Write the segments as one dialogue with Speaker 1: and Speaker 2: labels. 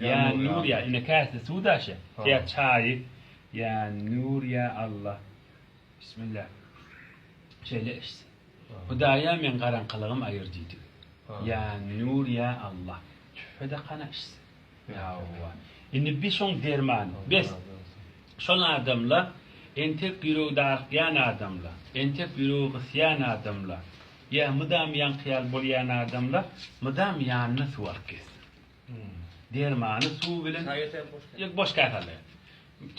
Speaker 1: Ýa Nur ýa ine käse suw daşy ýa çaýy ýa Nur ýa Alla Bismilla şeýle içse Hudaýa meň garaňkylygym aýyr diýdi ýa Nur ýa Alla tühfede kana içse Hawa indi bi şoň dermany bes şol adamla entek ýüregi darykýan adamla entek ýüregi gysýan adamla ýa mydam ýaňky ýaly bolýan adamla mydam ýanyna suw alyp gezsin Dermany suw bilen ýok boş käsede.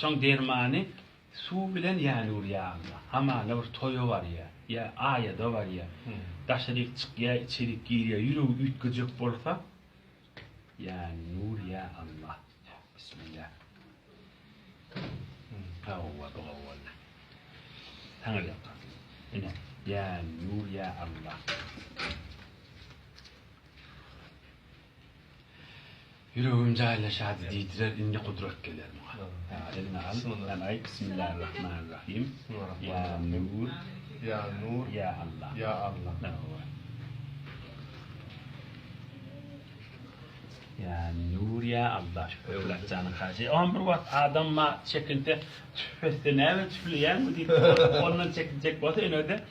Speaker 1: Şoň dermany suw bilen ýany urýar. Hamana bir toýa barýar. Ýa aýada barýar. Daşaryk çykýar, içerik girýär. Ýüregi üýtgejek bolsa ýany urýar Alla. Bismilla. Hawa, bu hawa. Saňa ýakar. Ine, ýany urýar Alla. Ýüregim jaýlaşady diýdiler indi gudrat geler muňa. Eliňe al, galaý, Bismillarrahmanrrahym, Ýa Nur, Ýa Nur, Ýa Allah, Ýa Allah, Hawa, Ýa Nur, Ýa Allah, şu Öwlad janyň hajy, oňam bir wagt adam ma çekinse tüf etse näme tüfleýäňmi diýip ondan çekinjek bolsa ýöne-de.